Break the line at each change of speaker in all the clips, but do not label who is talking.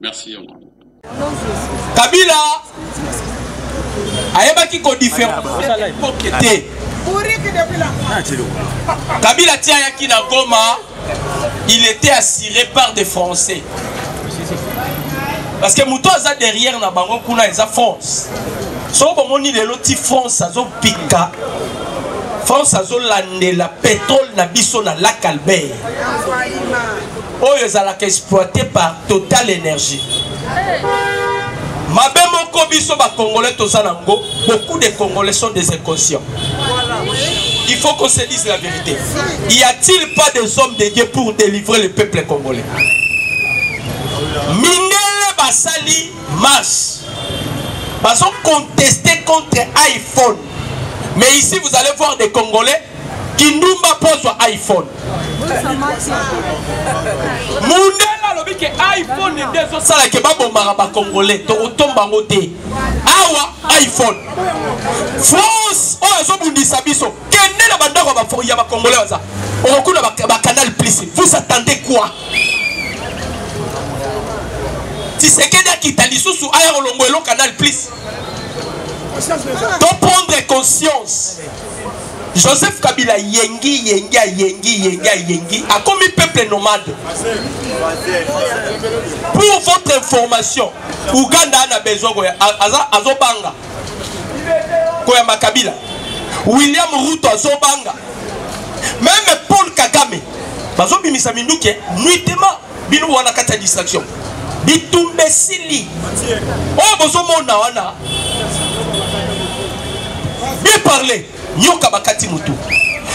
merci ya mama
kabila ayebaki kodiferencepoke te kabila ti ayaki na goma il était assuré par des français parce que moto aza derrière na bango kuna eza france soko bomoni lelo ti france azopika france azolandela petrole na biso na lac albert oyo ezalaka exploite par total énergie mabe moko biso bacongolais toza na ngo beaucoup de congolais sont des inconscients il faut qu'on se dise la vérité y a-t-il pas des hommes de dieu pour délivrer le peuple congolais mindele basali marche bazo contester contre iphone mais ici vous allez voir des congolais kindumba pozwa iphone mundele alobi ke iphone nde ezosala ke babomaka bacongolais tokotomba yango te awa iphone france oyo azobundisa biso kende na bandako ya bacongolais baza okokuna bacanal plus vous attendez quoi tisekedi akita lisusu aya kolongwa elo canal plus to prendre conscience joseph kabila yengi yengi ayengi yengi ayengi akomi peuple nomade pour votre information uganda ana besoin koya azobanga koyamba kabila william ruto azobanga meme paul kagame bazobimisa minduki nuitema bino wana kati ya distraction bitumba esili oyo bozomona wana bien parle nyoka bakati motu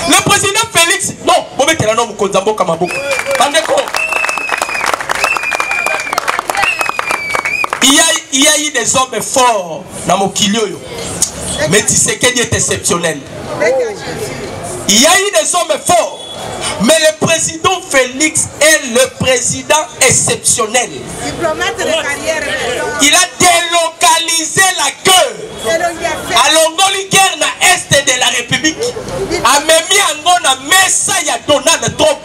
le président félix non bobetela no mokonzi ya mboka maboko bandeko il y a, il y a eu des hommes forts na mokili oyo mais tisekedi est exceptionnel il y a eu des hommes forts Mais le président Félix est le président exceptionnel. Diplomate de carrière. Il a délocalisé la queue. Alongoli guerre na est de la République. Amemi yango na mesa ya Donald Trump.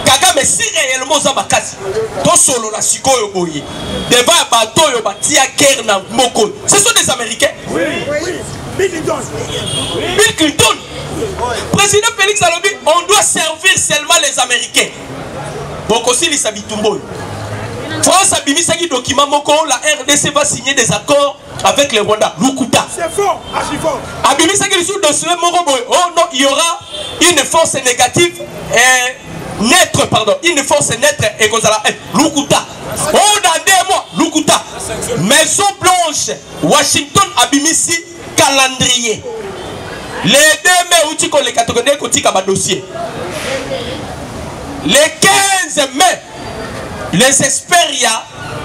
Kagame si réellement oza makasi. Tosolola sikoyo boye. Devant ya bato oyo batia guerre na moko. Ce sont des Américains. Oui. Bill Clinton. Bill Clinton. Président Félix Alobi, on doit servir seulement les Américains. bokosilisa bitumba oyo france abimisaki document moko la rdc va signer des accords avec le rwanda lukuta abimisaki lisusu document moko boye oh non il y aura une force négative eh, neutre pardon une force neutre ekozala eh, lukuta oh dans deux mois lukuta maison blanche washington abimisi calendrier le 2 mai euti koleka tokendeki kotika badossier le 15 mai les experts ya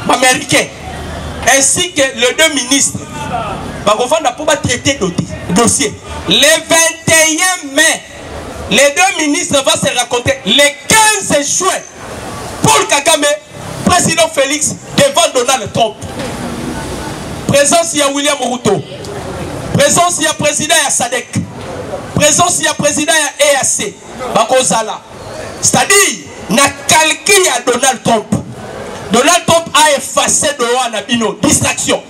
baaméricain ainsi que le deux ministres bakovanda mpo batraite dossier le 21 mai les deux ministres va se raconter le 15 juin Paul Kagame, président Félix devant Donald Trump. Présence ya William Ruto. Présence ya président ya SADC. Présence ya président ya EAC. Bakozala. C'est-à-dire na calcul ya Donald Trump. Donald Trump a effacé Doha na bino distraction.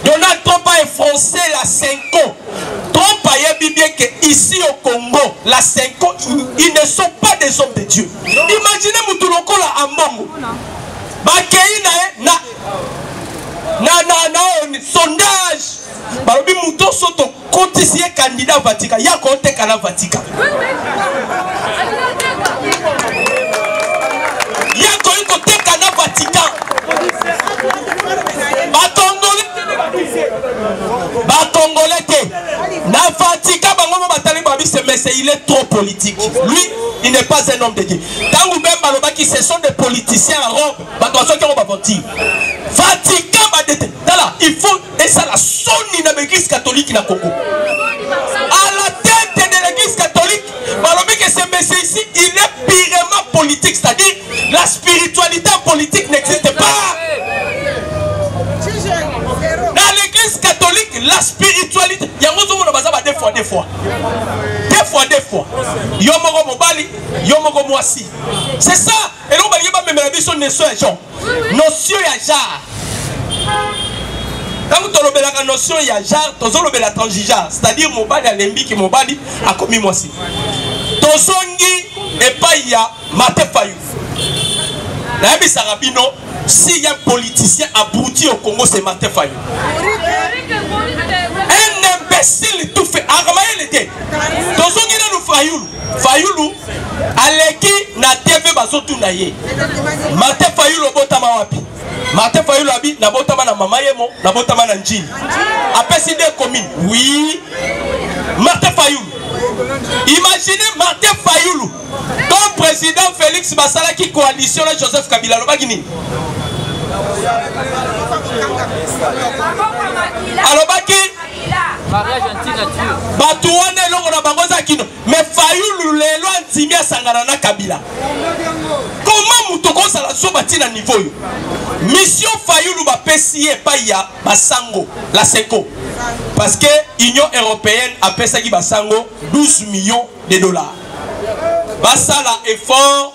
Donald Trump a effrancé la Senko. Trump a yebi bien que ici au Congo, la Senko, ils ne sont pas des hommes de Dieu. Imaginez Moutoulokolo à Mbongo. Bakei na na na na na sondage. Balobi moto soto kotisi ye kandida vatika ya koteka na vatika yakoki koteka na vatikan bakongole bakongole te na vatikan bango mo batali babise mese il est trop politique lui il n'est pas un homme de dieu ntango bemba alobaki ce sont des politiciens à rome bato basoki yango bavanti vatikan badete tala il faut esala soni na baeglise katolike na congo à la tete de l'église catholique balobi que ce monsieur ici il est purement politique c'est à dire la spiritualité en politique n'existe pas dans l'église catholique la spiritualité yango ozomona baza ba deux fois deux fois deux fois deux fois yo moko mobali yo moko mwasi c'est ça eloko balingi bamemela biso neso ya jean notion ya genre ntango tolobelaka notion ya genre tozolobela transgenre c'est-à-dire mobali alembiki mobali akomi mwasi tozongi epai ya mate fayu nayebisaka bino si ya politicien abruti au congo c'est mate fayu un imbécile tout fait akamayele te tozongi nanu fayulu Fayulu aleki na TV bazotuna ye Martin Fayulu obotama wapi? Martin Fayulu abi nabotama na mama yemo nabotama na Njili apesi de commune oui Martin Fayulu imaginez Martin Fayulu comme président Félix basalaki coalition na Joseph Kabila alobaki nini alobaki bato wana eloko na bango eza kino me fayulu lelo andimi asangana na kabila koma moto okozala zoba ntina nivo oyo mission fayulu bapesi ye epai ya basango la seco parce que union européenne apesaki basango 12 millions de dollars basala effort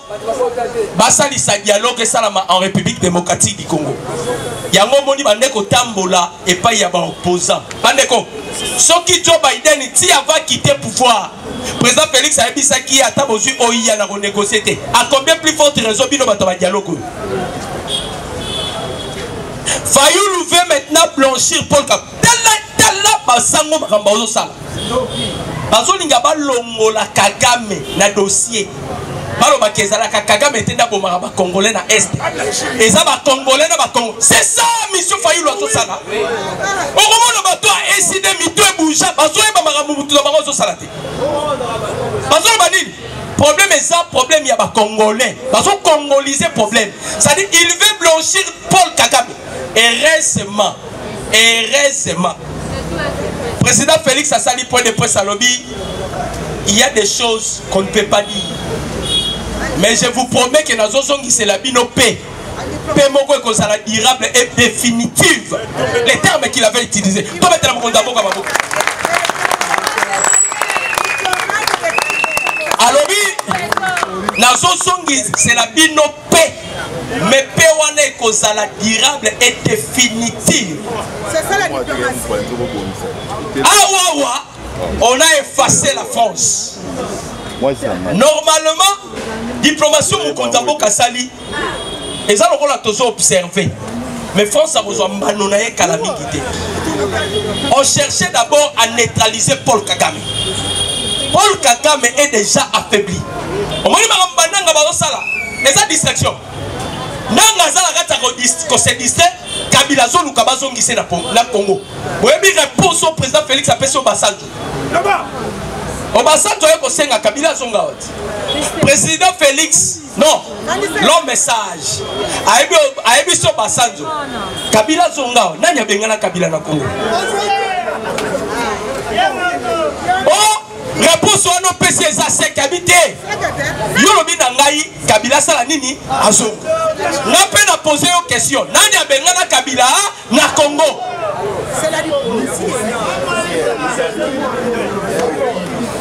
basalisa dialogue esalama en république démocratique du congo yango omoni bande kotambola epai ya baopposant bandeko soki joe biden ti ava kite pouvoir président félix ayebisaki ye ata bozwi oiya na konegocie te a combien plus forte raison bino bato ya badialogue oyo fayulu veut maintenant blanchir paul tala tala basango makambo bazosala bazolinga balongola kagame na dossier balobaka ezalaka kagame te nde abomaka bacongolais na est eza bacongolais na bacongo c'est ça mission fayulu azosala okomona bato ya eside mito ebouja bazoyeba makambo motu na bango azosala te bazoloba nini problème eza problème ya bacongolais bazocongolise problème c'est-à-dire il veut blanchir paul kagame heureusement heureusement président félix asali point de presse alobi il y a des choses qu'on ne peut pas dire mais je vous promets que nazozongisela bino mpe mpe moko ekozala durable et définitive les termes qu'il avait utilisé tobetela mokonzi ya mboka maboko alobi nazozongisela bino Paix. Mais paix wana ekozala durable et définitive. C'est
ça la diplomatie.
Awawa, on a effacé la France. Normalement, diplomatie mokonzi ya mboka asali eza lokola tozo observer mais france akozwa mbano na ye kala mingi te on cherchait d'abord à neutraliser paul kagame paul kagame est déjà affaibli omoni makambo bananga bazosala eza distraction nanga aza na kati ya kose distre kabila azoluka bazongise na congo oyebi réponse oyo président félix apesi obasanjo obasanjo aye kosenga kabila azonga wati président félix non l'homme message ayebi ayebi so basanjo kabila azonga nani abengana kabila na congo reponse wana opesi eza se kabi te yo lobi na ngai kabila asala nini azonga nga mpe na pose yo question nani abengana kabila na congo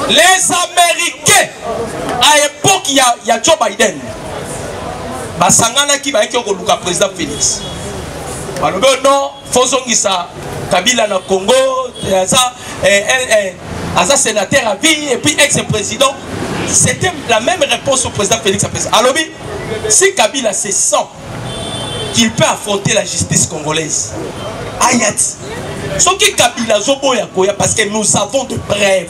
les américains à époque ya, ya joe biden basanganaki bayaki koluka président félix balobi oh non faut zongisa kabila na congo aza eh, eh, eh, aza sénateur à vie et puis ex président c'était la même réponse au président félix apesa alobi si kabila se sent qu'il peut affronter la justice congolaise ayat soki kabila azoboya koya parce que nous avons de preuve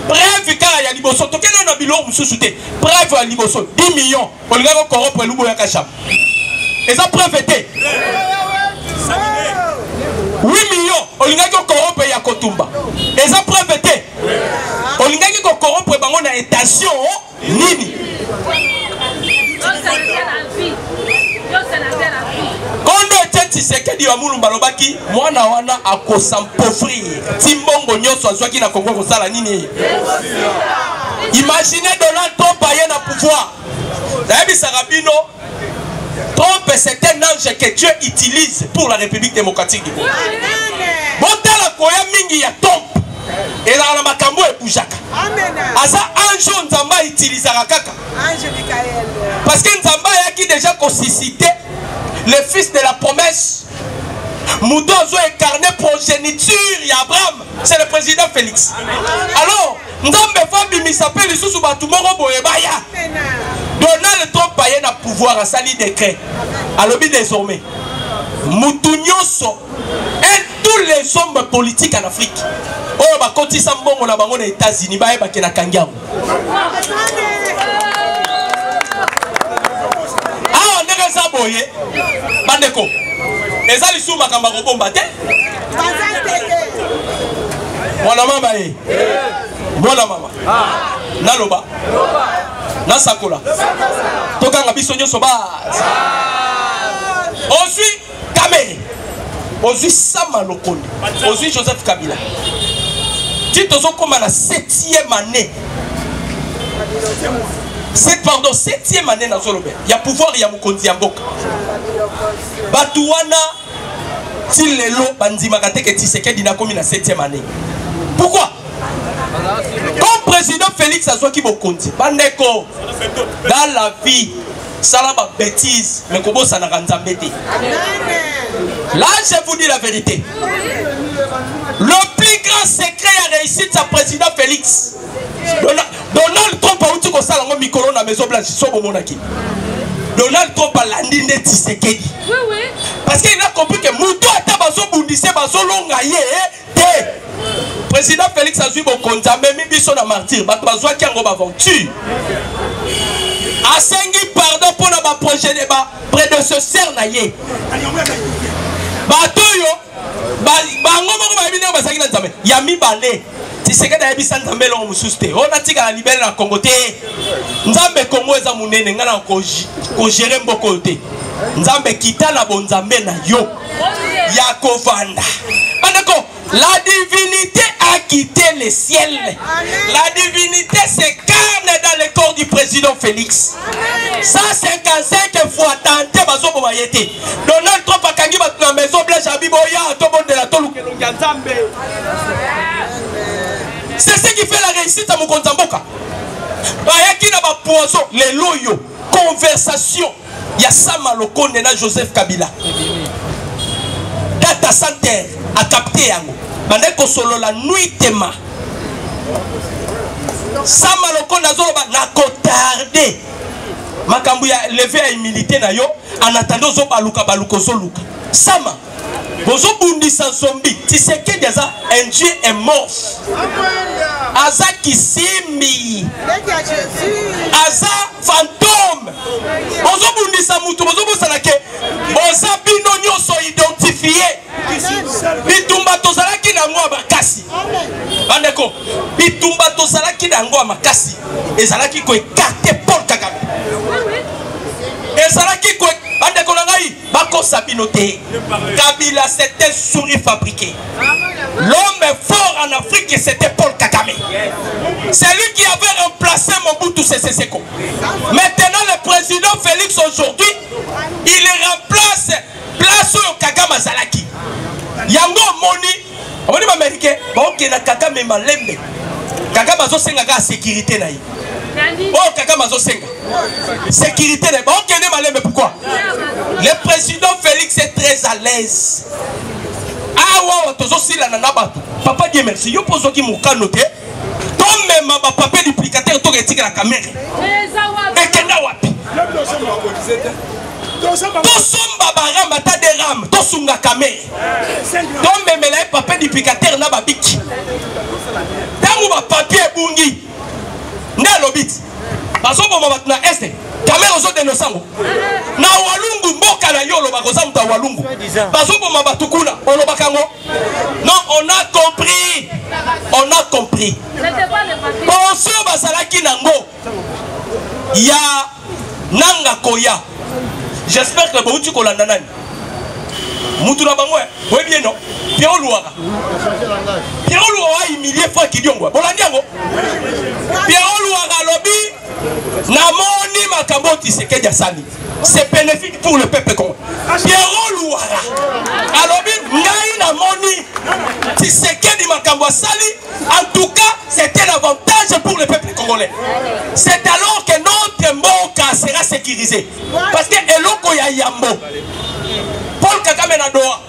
preuve kaka ya liboso tokende na biloko mosusu te preuve ya liboso 10 millions olinga ko corrompre lubo ya kasham eza preuve te oui million olingaki ko corrompre ya kotumba eza preuve te olingaki ko corrompre bango na intention nini kondo ete tshisekedi wa mulumba alobaki mwana wana akosa mpofrir ti mbongo nyonso azwaki na congo kosala nini imagine donald trump aye na pouvoir nayebisaka bino trump c'est un ange que dieu utilise pour la république démocratique du congo botala koya mingi ya trump ezalaka na makambo ebujaka aza ange oyo nzambe autilisaka kaka parce que nzambe ayaki déjà kosuscite le fils de la promesse moto azo incarne progéniture ya abraham c'est le président félix alors nzambe fo abimisa mpe lisusu bato moko boye baya donald trump aye na pouvoir asali décret alobi désormais motu nyonso et tous les hommes politiques en afrique oyo bakotisa mbongo na bango na états-unis bayebake na kangi yango awa ndenge eza boye bandeko eza lisusu makambo ya kobomba te mwana mama ye mwana mama naloba nasakola tokanga biso nyonso base oswi kamere ozwi sama lokondo ozwi joseph kabila ti tozokoma na septième année c'est pardon septième année nazolobela ya pouvoir ya mokonzi ya mboka bato wana ti lelo bandimaka te ke tisekedi nakomi na septième année pourquoi comme président félix azwaki bokonzi bandeko dans la vie sala ba bêtises mais kobosanaka nzambe te là je vous dis la vérité le plus grand secret ya réussite ya président félix donald trump auti kosala yango mikolo na maison blanche so bomonaki donald trump alandi nde tisekedi parce que il a compris que moto ata bazobundise bazolonga ye te président félix azwi bokonzi amemi biso na martyr bato bazwaki yango baventure asengi pardon mpo na bapredecesseur na ye bato oyo bango moko bayebi ndenge bazalaki na nzambe ya mibale tisekedi ayebisa nzambe eloko mosusu te oyo natikala libele na kongo te nzambe kongo eza monene ngai na kogere mboko oyo te nzambe kita na bonzambe na yo ya kovanda bandeko la divinité a quitté le ciel la divinité s'incarne dans le corps du président félix 155 fois tante bazoboma ye te donald trump akangi bato na maison blanche abiboya tobondela toluka elongi ya nzambe c'est ce qui fait la réussite ya mokonzi ya mboka bayaki na bapoison lelo oyo conversation ya sama lokonde na joseph kabila data center akapte yango bande kosolola nuitema sama lokonde azoloba na kotarde makambo ya leve ya humilité na yo anatanda ozobaluka baluka ozoluka sama bozobundisa zombi tisekedi aza un dieu est mort aza kisimbi aza fantome bozobundisa motu bozobosana ke boza bino nyonso identifie bitumba tozalaki na yango ya makasi bandeko bitumba tozalaki na yango ya makasi ezalaki koekarte paul kagame ezalaki bandeko na ngai bakosa bino te kabila c'était souris fabriqué l'homme fort en afrique c'était paul kagame celui qui avait remplacé mobutu sese seko maintenant le président félix aujourd'hui il remplace place oyo kagame azalaki yango omoni omoni baamerikain baokenda kakame malembe kakame azosenga kaka sekirite na ye oyo oh, kakame azosenga sekirite na ye baokende oh, malembe pourkoi le président félix est très à l'aise awa ah, oyo tozosilana na bato papa die merci yo mpo ozwaki mokano te tomema bapapie duplicateur toka etikela kamere ekenda wapi tosomba barame ata de rame tosunga kamere tomemela ye papier duplicateur na babiki ntango bapapier ebungi nde alobi bazoboma bato na este kamere ozodeno sango na walungu mboka na yo olobaka oza moto ya walungu bazoboma bato kuna olobaka yango non on a compris on a compris bonso bazalaki nango ya nanga koya j'espère que bouti kolanda nani mutu na bango boyebi ye no pierro luwaka pierro luwaka ahumilie frank diongo bolandi yango pierro luwaka alobi namoni makambo oyo tisekedi asali c'est bénéfique pour le peuple congo pierro luwaka alobi ngai namoni tisekedi makambo asali En tout cas, c'est un avantage pour le peuple congolais. C'est alors que notre Moka sera sécurisé. Parce que Eloko ya Yambo, Paul Kagame na Doha,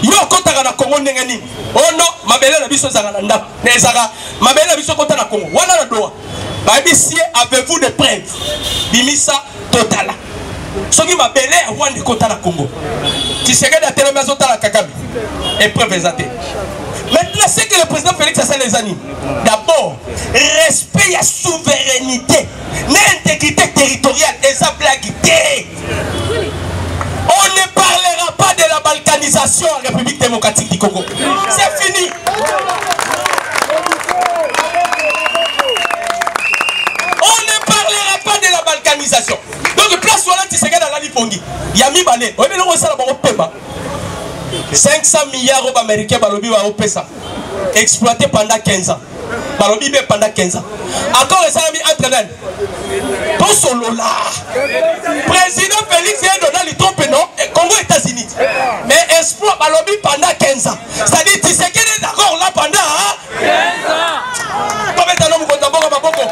yo okotaka na congo ndenge nini ono oh mabele na biso ezalaka na ndako na ezalaka mabele na biso ekota na congo wana na doha babisi ye avez-vous de preuve bimisa totala soki mabele ya rwanda ekotala congo tisekedi atelemi azotala kagame epreuve eza te maintenant ce que le président félix asala eza nini d'abord respect ya souveraineté na intégrité territoriale eza blague te on ne parlera pas de la balkanisation en république démocratique du congo c'est fini On ne parlera pas de la balkanisation. Donc place wana Tshisekedi alali pongi ya mibale oyebi eloko esala bango pema 500 milliards oyo baaméricain balobi baopesa exploité pendant 15 ans balobi be pendant 15 ans accord esalami entre nani tosolola président félix ye donald trump no eh, congo états-unis mais espoir balobi pendant 15 ans c'est-à-dire tisekede d'accord là pendant 15 ans tobeta no mokonzi ya mboka maboko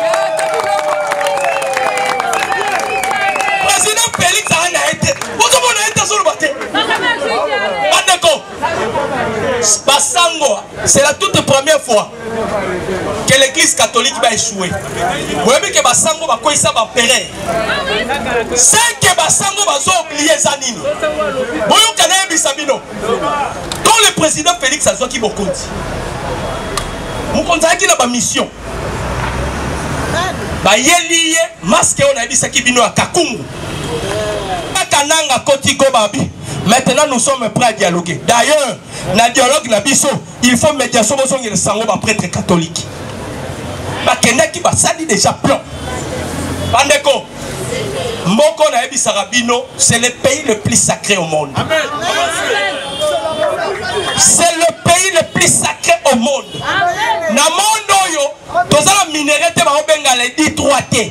président félix aa na ye te ozomona ye te azoloba te bandeko basango c'est la toute première fois que l'église catholique va échouer. Vous voyez que Basango va quoi ça va périr. C'est que Basango va oublier Zanini. Voyons qu'elle est bisabino. Quand le président Félix a dit qu'il compte, vous comptez qu'il a ma mission. bayeli ye maske oyo nayebisaki bino ya kakungu kaka nanga koti gobabi maintenant nous sommes prêts à dialoguer d'ailleurs na dialogue na biso il faut médiation bozongela sango ba prêtre catholique bakendaki basali déjà plan bandeko moko nayebisaka bino c'est le pays le plus sacré au monde c'est le pays le plus sacré au monde na monde oyo toza na minere te baobenga ledi 3 te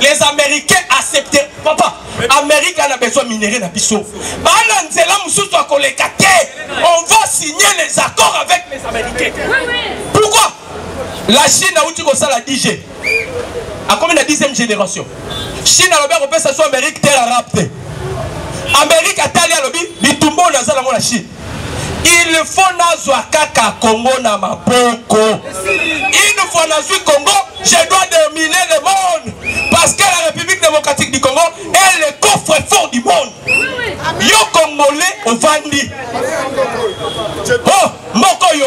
les américains accepte papa amérique ana besoin minere na biso baana nzela mosusu ya koleka te on va signer les accords avec les américains pourquoi la chine auti kosala dg akomi na 10e génération chine alobi akopesa so amérique terre arabe te amérique atali alobi bitumba oyo naza nango na chine Il faut nazwa kaka Congo na maboko. Une fois nazwi Congo, je dois dominer le monde parce que la République démocratique du Congo est le coffre-fort du monde. Yo Congolais ovandi. Oh, moko yo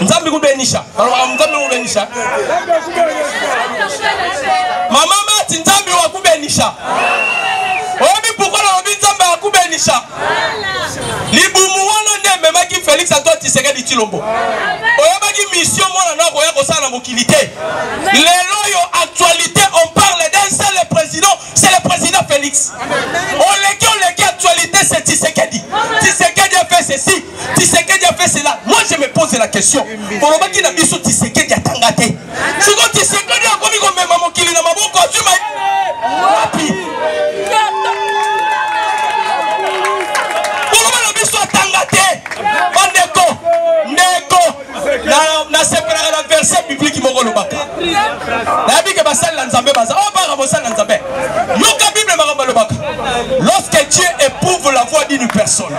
nzambe kubenisha nalobaka nzambe kubenisha mama mati nzambe wakubenisha oyebi pourkoi nalobi nzambe akubenisha libumu wana nde ememaki felix antoine tisekedi tilombo oyebaki mission mwana na akoya kosala na mokili te lelo oyo actualité on parle d'un seul président c'est le président Félix. Oleki, oleki, actualité, c'est Tshisekedi. Tshisekedi a fait ceci, Tshisekedi a fait cela. Moi, je me pose la question. Bolobaki na biso Tshisekedi a tangate. Siko Tshisekedi a komi komema mokili na maboko azwi ma... Wapi? Boloba na biso atanga te. Bandeko, ndeko, nasepelaka na verse bibliki moko olobaka nayebi ke basali na nzambe baza oyo oh, baka bosali na nzambe yoka bible makambo alobaka lorsque dieu éprouve la voix d'une personne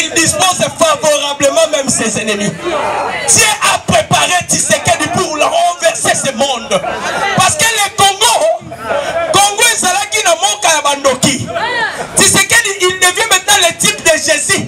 il dispose favorablement même ses ennemis dieu a préparé tisekedi pour la renverser ce monde parce que le congo congo ezalaki na moka ya bandoki tisekedi il devient maintenant le type de jésus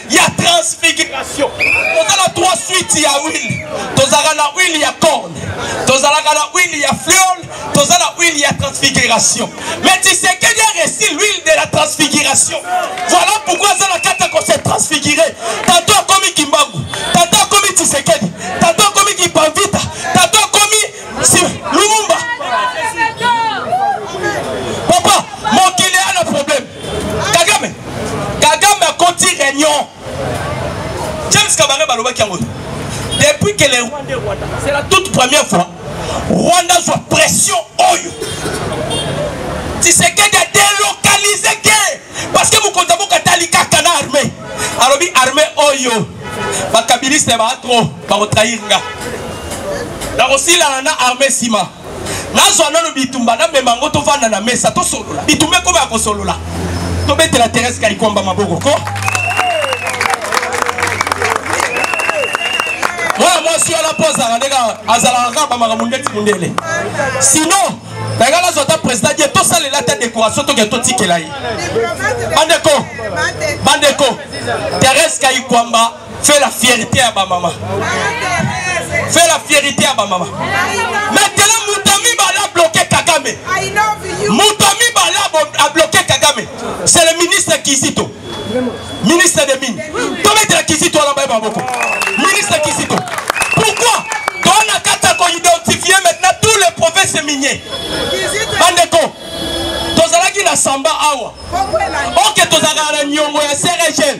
ya transfiguration toza na trois suite ya huile tozalaka na huile ya corne tozalaka na huile ya fleole toza na huile ya transfiguration mais tisekedi a resi l'huile de la transfiguration voilà pourquoi aza na kati ya kose transfigure tato akomi kimbangu tato akomi tisekedi tato akomi kipanvita tato akomi si, lumumba kagame kagame akoti réunion james kabare balobaki yango depuis que les rwandais rwanda c'est la toute première fois rwanda azwa pression oyo tisekedi a délocalise ke parce que mokonzi ya boka atali kaka na armée alobi armée oyo bakabiliste baa trop bakotrahir nga nakosilana na armée nsima nazwa nano bitumba namema yango tovanda na mesa tosolola bitumba ekoma ya kosolola tobetela terese kaikwamba maboko ko mwana mwasi wana mpo azalaka ndenge azalaka kaka bamakambo ndeti mondele sinon nanga nazwa ata président die tosalela ata décoration toke totikela ye bandeko bandeko terese kaikwamba Fais la fierté ya ba mama. Fais la fierté ya ba mama. Maintenant Mutami bala bloquer Kagame. Mutami bala a bloquer Kagame. C'est le ministre Kizito. Ministre des mines. Tomettre la Kizito à la baie baboko. Ministre Kizito. Pourquoi Dans la carte qu'on identifie maintenant tous les provinces miniers. Bandeko. Tozalaki na samba awa. Ok tozalaka na nyongo ya CRGL.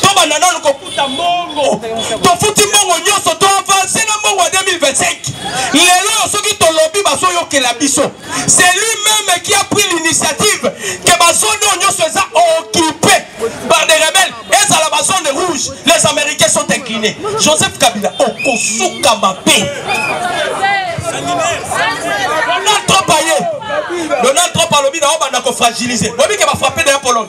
tobanda nanu kokuta mbongo tofuti mbongo nyonso to avanse na mbongo ya 2025 lelo oyo soki tolobi bazoyokela biso c'est lui même qui a pris l'initiative ke bazone oyo nyonso eza occupe par des rebelles ezala bazone rouge les américains sont inclinés joseph kabila okosuka mabe donald trump aye donald trump alobi na obanda kofragilize oyebi ke bafrappe na ya pologne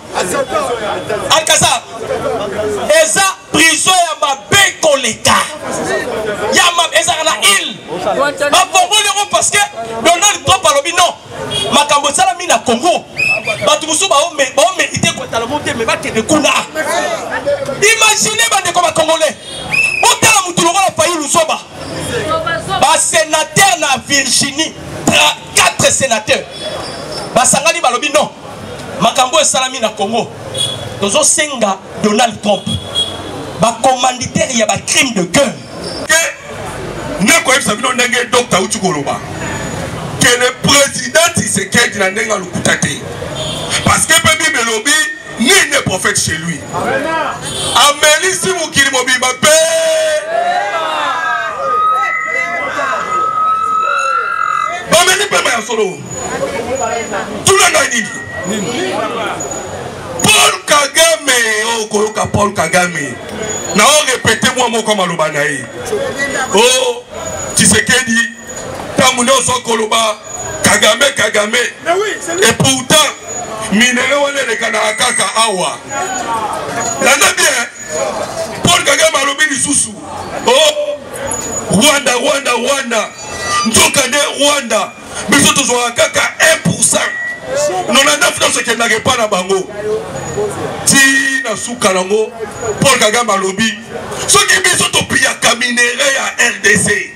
alcazar eza prison ya mabe koleka ya mabe ezalaka na ile bafongoli yango parce que donald trump alobi non makambo esalami na congo bato mosusu baomerite kotala mo te me bakende kuna imagine bandeko bacongolais otala motu lokola fayi luzoba basenatere na virginie 4 sénateurs basangani balobi non makambo esalami na Congo tozosenga Donald Trump bacommanditaire ya bacrime de guerre
nakoyebisa bino ndenge dokta auti koloba ke le président tisekedi na ndenge alukuta te parce que mpe bible elobi Nul n'est prophète chez lui. Amelisi mokili mobimba mpe bameli mpema ya solo. Tuna ngai nini? Paul Kagame, oh, okoyoka Paul Kagame. Na o répéter mwa moko maloba na ye. Oh, Tshisekedi ntango nyonso akoloba kagame kagame et pourtant minere wana elekanaka kaka awa landa bien paul kagame alobi lisusu o oh, rwanda rwanda rwanda nzoka nde rwanda biso tozwaka kaka 1 pourcent 99 nyonso ekendaka epai na bango ti na suka nango paul kagame alobi soki biso topiyaka minere ya rdc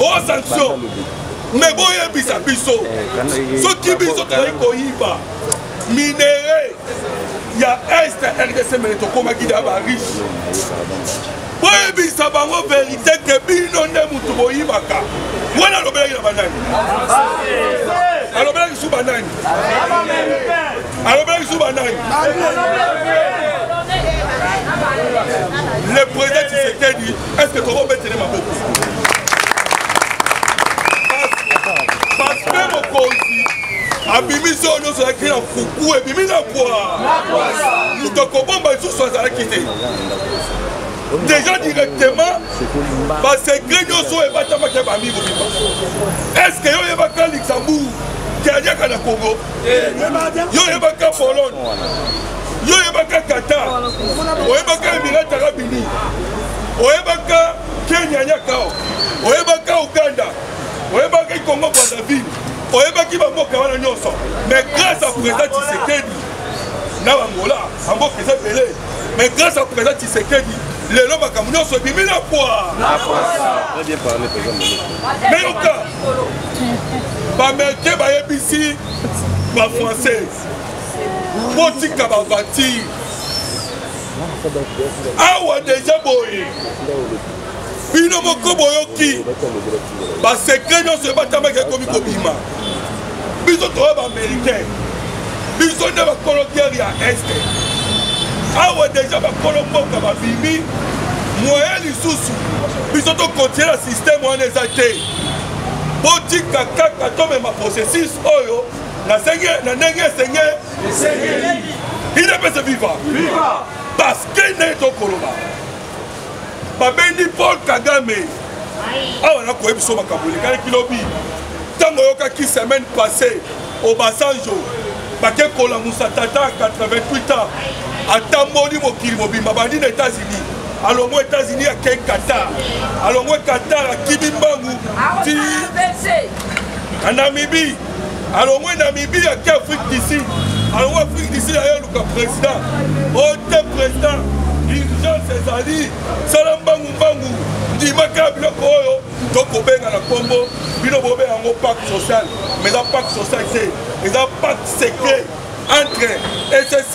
oza nso me boyebisa biso eh, soki biso tozali koyiba minere ya este rdc mene tokomaki na bariche boyebisa bango verité ke bino nde motu boyibaka wana alobelaki na banani alobelaki su banani alobelaki su banani le président tshisekedi est ce que tokobetele maboko parce que mokonzi abimi so nyonso alaki na fuku ebimi na pwa moto akobomba lisusu azalaki te déjà directement basecret nyonso oyo ebatamaki ya bami mobimba est ce que yo oyebaka luxembourg kadiaka na congo yo oyebaka pologne yo oyebaka qatar oyebaka emirate arabe unis oyebaka kenya nyakao oyebaka uganda oyebaka ikongo brazzaville oyebaki bamboka wana nyonso mais grâce à président tshisekedi na bangola bamboka eza ebele mais grâce à président tshisekedi lelo makambo nyonso ebimi na pwa meyoka bamericain bayebisi bafrançais botika bavatire awa deja boye bino moko boyoki basekre nyonso ebatamaki ekomi kobima biso toya baamericain biso nde bakolo guerre ya este awa deja bakolo mboka babimi moyen lisusu biso tokontinue na systeme wana eza te botika kaka tomema processus oyo na ndenge esengeli inapesa viva paske nde tokoloba babendi paul kagame awa nakoyebi biso makambo elekalaki lobi ntango oyokaki semaine passé obasanjo bake kolamusa tata 88 ans atamboli mokili mobimba bandi na états-unis alongwe états-unis akei qatar alongwe qatar akimi mbangu ti na namibie alongwe namibie ake afrique du sud alongwe afrique du sud aye luka président ote oh, président urgence ezali sala mbangu mbangu ndimaka biloko oyo tokobenga na nkombo bino bobenga yango pacte social mais eza pacte social te eza pacte secret entre ecc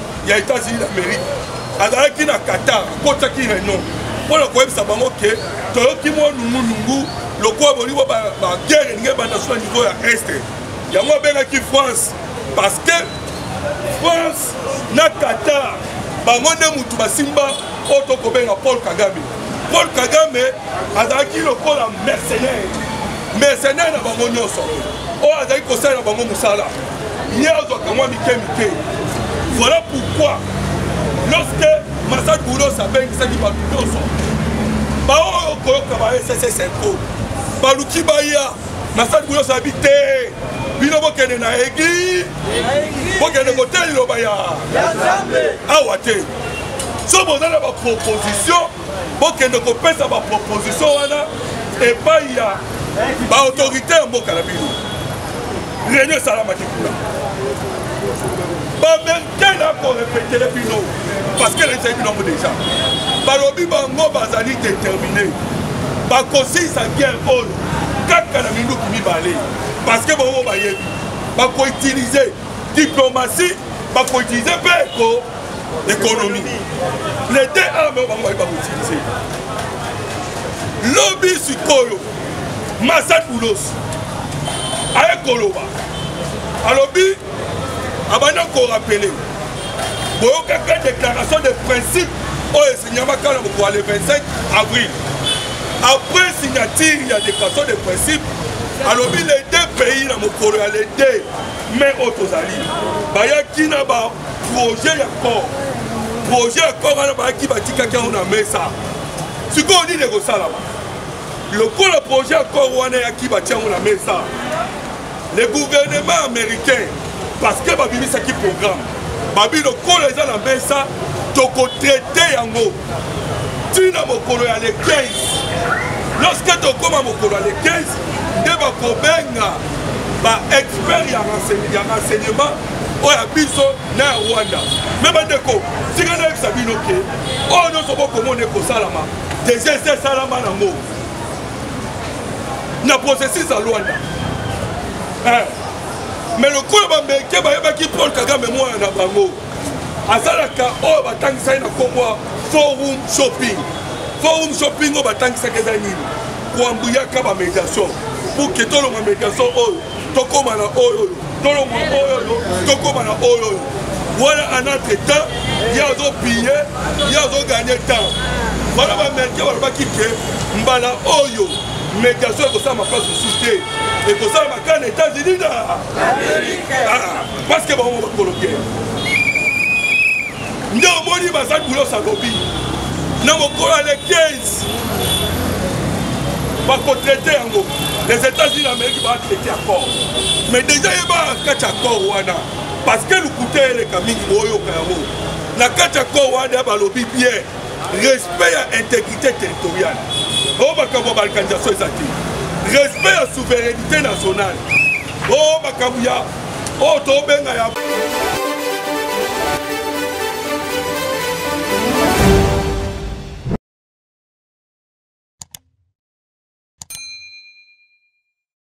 ya états-unis d'amérique azalaki na qatar akotaki reunion mpo na koyebisa bango ke toyoki mwa nungunungu lokola bolingo baguerre elingi ebanda so na niveau ya este yango abengaki france parce que france na qatar bango nde motu basimba oyo tokobenga paul kagame paul kagame azalaki lokola mercenaire mercenaire na bango nyonso oyo azali kosalela bango mosala ye azwaka mwa mike mike voilà pourquoi lorsque masad boulos abengisaki bato nyonso baoyo koyoka ba sss info baluki baya masad boulos abi te bino bokende na eglise bokende kotelela liloba ya awa te so boza na baproposition bokende kopesa baproposition wana epai ya baautorité ya mboka na bino réunion esalamaki kuna bamerikene akorepetele bino parceke elakisaki bino yango deja balobi bango bazali determine bakosilisa guerre oyo kaka na minduki mibale parceke bango bayebi bakoutilize diplomatie bakoutilize mpe eko économie les deux armes oyo bango baye bakoutilize lobi sikoyo masad boulos aye koloba alobi abandi korapele boyokaka déclaration de principe oyo esinyamaka na mokolo le 25 avril après signature ya déclaration de principe alobi les deux pays na mokolo ya le 2 mai oyo tozali bayaki na ba projet ya corps projet ya corps wana bayaki batikaki yango na mesa sikoyo nini ekosalama lokola projet ya corps wana yaki batia yango na mesa le gouvernement américain parce que babimisaki programme babi lokola eza na mesa tokotraite yango ti na mokolo ya le 15 lorsque tokóma mokolo ya le 15 nde bakobenga baexpert ya renseignement oyo ya biso na ya rwanda me bandeko tika nayebisa bino ke oyo nyonso bokomona ekosalama deja esi esalama nango na processus ya rwanda eh. me lokola bameke bayebaki paul kagame mwana na bango azalaka oyo batangisaki na nkombo ya forum shopping forum shopping oyo batangisaki eza nini koambuyaka bamediation pour ke tolonga mediation oyo tokóma na oyo oyo tolonga oyo oyo tokóma na oyo oyo wana en entre temps ye azopille ye azoganye temps wana bamericain balobaki ke mbala oyo mediation ekosalama place mosusu te ekosalama kaka na états-unis na parce que bango bakolo te nde omoni baza bulos alobi na mokolo ya le 15 bakotraite yango les états-unis amérique batraite accord mais déjà ye bakati accord wana parce que lokuta eleka mingi boyoka yango na kati ya accord wana balobi bien respect ya intégrité territoriale o oh, makambo ya balkanisation eza te respect ya souveraineté nationale o oh, makambo ya oyo tobenga ya